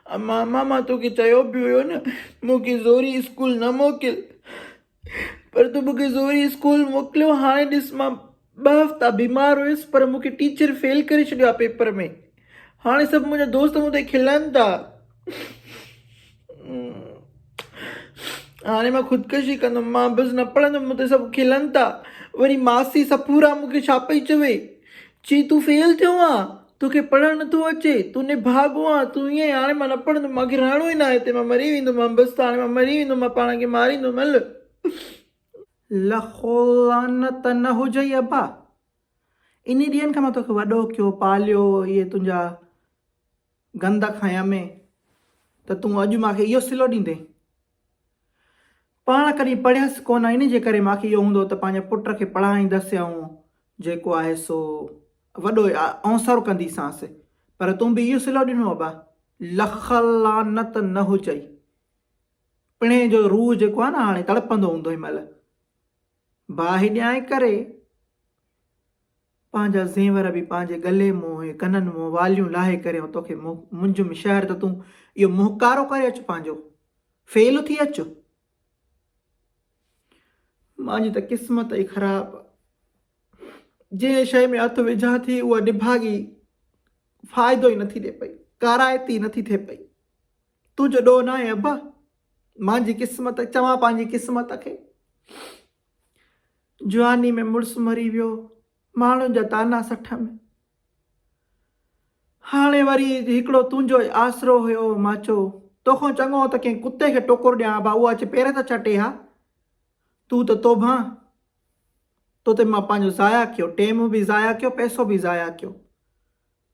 امان، ماما توکي چيو به هيو نه مون کي زوري اسڪول نه موڪل پر تون مون کي زوري اسڪول موڪليو هاڻي ڏس مان ٻه هفتا بيمار هيس پر مون کي ٽيچر فيل ڪري ڇڏيو آ پيپر ۾ هاڻي سڀ منهنجا دوست مون تي کلن ٿا هاڻي مان خودڪشي ڪندم مان بس نه پڙهندم مون تي سڀ کلن ٿا وري ماسي سفورا مون کي ڇا پئي چوي چي تون فيل ٿيو آ توکي پڙهڻ نٿو اچي، تون نڀاڳو آن، تون ائين هاڻي مان نه پڙهندم، مان کي رهڻو ئي ناهي هتي، مان مري ويندو مان بس ته هاڻي مان مري ويندو مان پاڻ کي ماريندو مل. لک لعنت نه هجئي ابا، انهي ڏينهن کان مان توکي وڏو ڪيو، پاليو، اهي تنهنجا گند کانئن ۾ ته تون اڄ مان کي اهو صلو ڏيندين. پاڻ ڪڏهن پڙهيس ڪونه ان جي ڪري ماکي اهو هوندو ته پنهنجي پٽ کي پڙهائيندس يا آئون جيڪو آهي سو وڏو اونسرو ڪنديسانس پر تون به اهو صلو ڏنو ابا لک لعنت نه هجئي پڻهين جو روح جيڪو آهي نه هاڻي تڙپندو هوندو هن مهل باهه ڏيانء ڪري پنهنجا زينور به پنهنجي ڳلي مون ۽ ڪنن مون واليون لاهي ڪري ۽ توکي منجم شهر ته تون اهو مهڪارو ڪري اچ پنهنجو فيل ٿي اچ. مانجي ته قسمت ئي خراب آ. جنهن شيء ۾ هٿ وجهان ٿي اها نڀاڳي فائدو ئي نٿي ڏي پئي. ڪارائتي نٿي ٿئي پئي. تنهنجو ڏوهه ناهي ابا. مانجي قسمت چوان پنهنجي قسمت کي. جواني ۾ مڙس مري ويو، ماڻهن جا طعنا سٺ ۾. هاڻي وري هڪڙو تنهنجو ئي آسرو هيو، مان چيو، توکان چڱو ته ڪنهن ڪتي کي ٽوڪر ڏيان ها اهو اچي پير ته چٽي ها. تون ته توبهان، تو تي مان پنهنجو ضايع ڪيو، ٽيم به ضايع ڪيو، پئسو به ضايع ڪيو.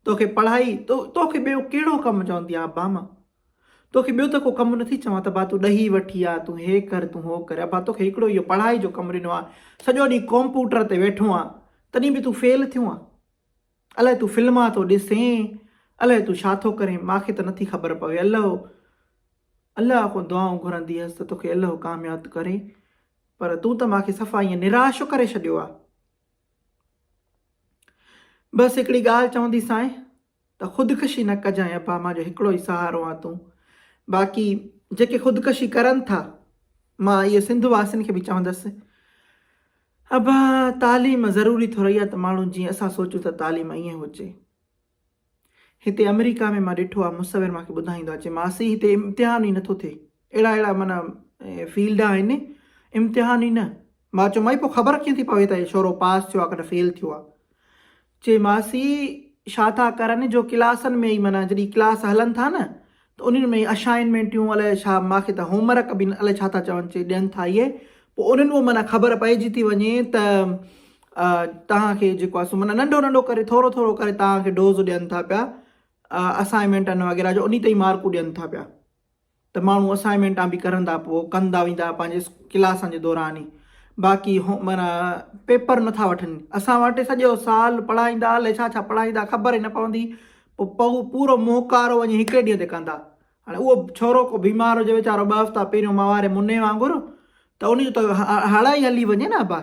توکي پڙهائي توکي ٻيو ڪهڙو ڪم چوندي آهيان ابا مان توکي ٻيو ته ڪو ڪم نٿي چوان ته ابا تون ڏهي وٺ يا تون هي ڪر تون هو ڪر ابا توکي هڪڙو اهو پڙهائي جو ڪم ڏنو آهي سڄو ڏينهن ڪمپوٽر تي ويٺو آهي تڏهن به تون فيل ٿيو آهي الاهي تون فلما ٿو ڏسين الاهي تون ڇا ٿو ڪرين ماکي ته نٿي خبر پوي الله الله کان دعائون گهرندي هيس ته توکي الله ڪامياب ڪري پر تون ته ماکي صفا ائين نراش ڪري ڇڏيو آهي بس هڪڙي ڳالهه چوندي سانء ته خودڪشي نه ڪجانء ابا مان جو هڪڙو ئي سهارو آن تون باقي جيڪي خودڪشي ڪرن ٿا مان اهو سنڌ واسين کي به چوندس ابا تعليم ضروري ٿورئي آ ته ماڻهو جيئن اسان سوچون ته تعليم ائين هجي. هتي آمريڪا ۾ مان ڏٺو آ مصور مانکي ٻڌائيندو آ چي ماسي هتي امتحان ئي نٿو ٿئي اهڙا اهڙا معنيٰ فيلڊ آهن امتحان ئي نه مان چيو مائي پو خبر ڪيئن ٿي پوي ته هي ڇورو پاس ٿيو آ ڪنه فيل ٿيو آ چي ماسي ڇا ٿا ڪرن جو ڪلاسن ۾ ئي معنيٰ جڏي ڪلاس هلن ٿا نه ته انهن ۾ اشائنمينٽيون الائي ڇا ماکي ته هوم ورڪ به الائي ڇا ٿا چون چي ڏين ٿا اهي پوء انهن مان معنيٰ خبر پئجي ٿي وڃي ته توهان کي جيڪو آهي سو معنيٰ ننڍو ننڍو ڪري ٿورو ٿورو ڪري توهان کي ڊوز ڏين ٿا پيا اسائنمينٽن وغيره جو انهي تي ئي مارڪون ڏين ٿا پيا ته ماڻهو اسائنمينٽان به ڪرن ٿا پوء ڪندا ويندا پنهنجي ڪلاسن جي دوران ئي باقي هو معنيٰ پيپر نٿا وٺن اسان وٽ سڄو سال پڙهائيندا الائي ڇا ڇا پڙهائيندا خبر ئي نه پوندي پوء پوء پورو مونکارو وڃي هڪ ئي ڏينهن تي ڪندا. هاڻي اهو ڇورو ڪو بيمار هجي ويچارو ٻه هفتا پهريون مئا واري مني وانگر ته ان جو ته هڙ ئي هلي وڃي نه ابا.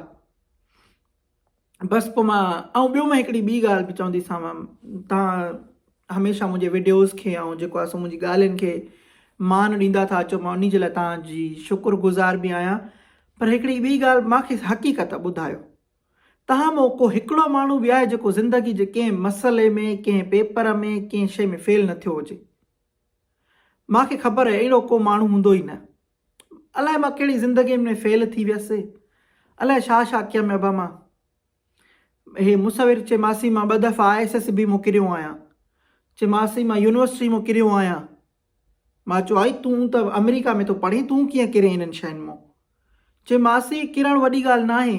بس پوء مان ائون ٻيو مان هڪڙي ٻي ڳالهه به چونديسانو تان هميشه منهنجي وڊيوز کي ائون جيڪو آهي سو منهنجي ڳالهين کي مان ڏيندا ٿا اچو مان انهي جي لاء تان جي شڪر گذار به آهيان پر هڪڙي ٻي ڳالهه مان کي حقيقت ٻڌايو. تنهن مان ڪو هڪڙو ماڻهو به آهي جيڪو زندگي جي ڪنهن مسئلي ۾، ڪنهن پيپر ۾، ڪنهن شيء ۾ فيل نه ٿيو هجي؟ مان کي خبر آهي اهڙو ڪو ماڻهو هوندو ئي نه. الائي مان ڪهڙي زندگين ۾ فيل ٿي ويس. الائي ڇا ڇا ڪيم ابا مان. هي مصور چي ماسي مان ٻه دفعا آء ايس ايس بي مان ڪريو آهيان. چي ماسي مان يونيورسٽي مان ڪريو آهيان. مان چيو آئي تون ته آمريڪا ۾ ٿو پڙهين تون ڪيئن ڪرين انهن شين مون. چي ماسي ڪرڻ وڏي ڳالهه ناهي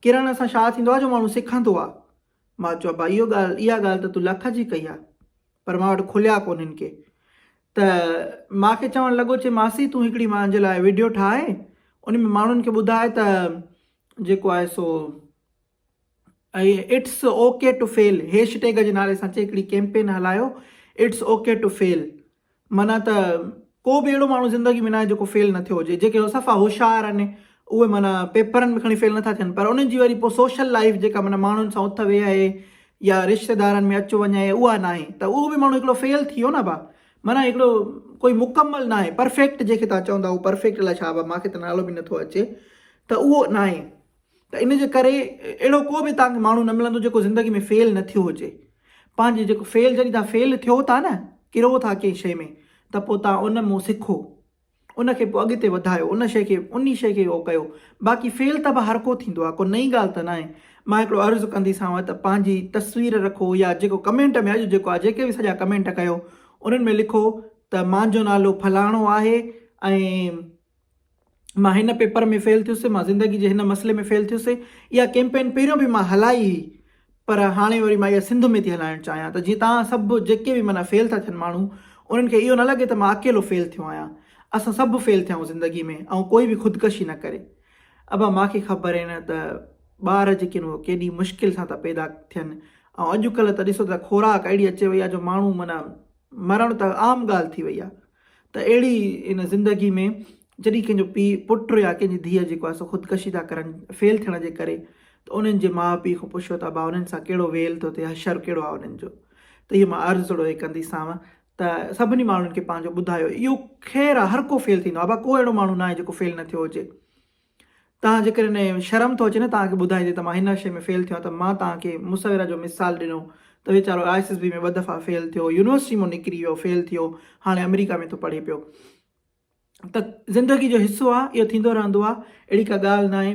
ڪرڻ سان شا ٿيندو آ جو ماڻهو سکندو آ. مان چيو ابا اهو ڳالهه اها ڳالهه ته تون لک جي ڪئي آ پر مان وٽ کليا ڪونهن ڪي ته مان کي چوڻ لڳو چي ماسي تون هڪڙي مانجي لاء وڊيو ٺاهه ان ۾ ماڻهن کي ٻڌاء ته جيڪو آهي سو ۽ it's okay to fail hashtag جي نالي سان چئي هڪڙي ڪيمپين هلايو اٽس اوڪي ٽو فيل معنيٰ ته ڪو به اهڙو ماڻهو زندگي ۾ ناهي جيڪو فيل نه ٿيو هجي جيڪي صفا هوشيار آهن اهي معنيٰ پيپرن ۾ کڻي فيل نٿا ٿين پر انهن جي وري پوء سوشل لائيف جيڪا معنيٰ ماڻهن سان اٿ ويهه يا رشتيدارن ۾ اچ وڃ آهي اها ناهي ته اهو به ماڻهو هڪڙو فيل ٿي ويو نه ڀا معنيٰ هڪڙو ڪوئي مڪمل ناهي پرفيڪٽ جيڪي تان چون ٿا اهو پرفيڪٽ الائي ڇا ڀا مانکي ته نالو به نٿو اچي ته اهو ناهي ته ان جي ڪري اهڙو ڪو به توهان کي ماڻهو نه ملندو جيڪو زندگي ۾ فيل نه ٿيو هجي. پنهنجي جيڪو فيل جڏهن توهان فيل ٿيو ٿا نه، ڪرو ٿا ڪنهن شيء ۾ ته پوء توهان ان مون سکو. ان کي پوء اڳتي وڌايو. ان شيء کي انهي شيء کي اهو ڪيو. باقي فيل ته به هر ڪو ٿيندو آهي. ڪو نئين ڳالهه ته ناهي. مان هڪڙو عرض ڪنديسانو ته پنهنجي تصوير رکو يا جيڪو ڪمينٽ ۾ اڄ جيڪو آهي جيڪي به سڄا ڪمينٽ ڪيو انهن ۾ لکو ته مانجو نالو فلاڻو آهي ۽ مان هن پيپر ۾ فيل ٿيس، مان زندگي جي هن مسئلي ۾ فيل ٿيس، اها ڪيمپين پهريون به مان هلائي هئي پر هاڻي وري مان اها سنڌ ۾ ٿي هلائڻ چاهيان ته جيئن توهان سڀ جيڪي به معنيٰ فيل ٿا ٿين ماڻهو انهن کي اهو نه لڳي ته مان اڪيلو فيل ٿيو آهيان، اسان سڀ فيل ٿيا آهيون زندگي ۾ ۽ ڪوئي به خودڪشي نه ڪري. ابا مان کي خبر آهي نه ته ٻار جيڪي آهن اهي ڪيڏي مشڪل سان ٿا پيدا ٿين ۽ اڄڪلهه ته ڏسو ته خوراڪ اهڙي اچي وئي آهي جو ماڻهو معنيٰ مرڻ ته عام ڳالهه ٿي وئي آهي. ته اهڙي ان زندگي ۾ جڏهن ڪنهن جو پيء، پٽ يا ڪنهن جي ڌيء جيڪو آهي سو خودڪشي ٿا ڪرن فيل ٿيڻ جي ڪري ته انهن جي ماء پيء کان پڇو ته ابا انهن سان ڪهڙو ويل ٿو ٿئي حشر ڪهڙو آهي انهن جو ته اهي مان عرض ٿورو هي ڪندي سانوء ته سڀني ماڻهن کي پنهنجو ٻڌايو اهو خير آهي هر ڪو فيل ٿيندو آهي ابا ڪو اهڙو ماڻهو ناهي جيڪو فيل نه ٿيو هجي. تان جيڪڏهن شرم ٿو اچي نه توهان کي ٻڌائيندي ته مان هن شي ۾ فيل ٿيو آهيان ته مان توهان کي مصوره جو مثال ڏنو ته ويچارو آء ايس ايس بي ۾ ٻه دفعا فيل ٿيو يونيورسٽي مون نڪري ويو فيل ٿيو هاڻي آمريڪا ۾ ٿو پڙهي پيو ته زندگي جو حصو آهي اهو ٿيندو رهندو آهي اهڙي ڪا ڳالهه ناهي.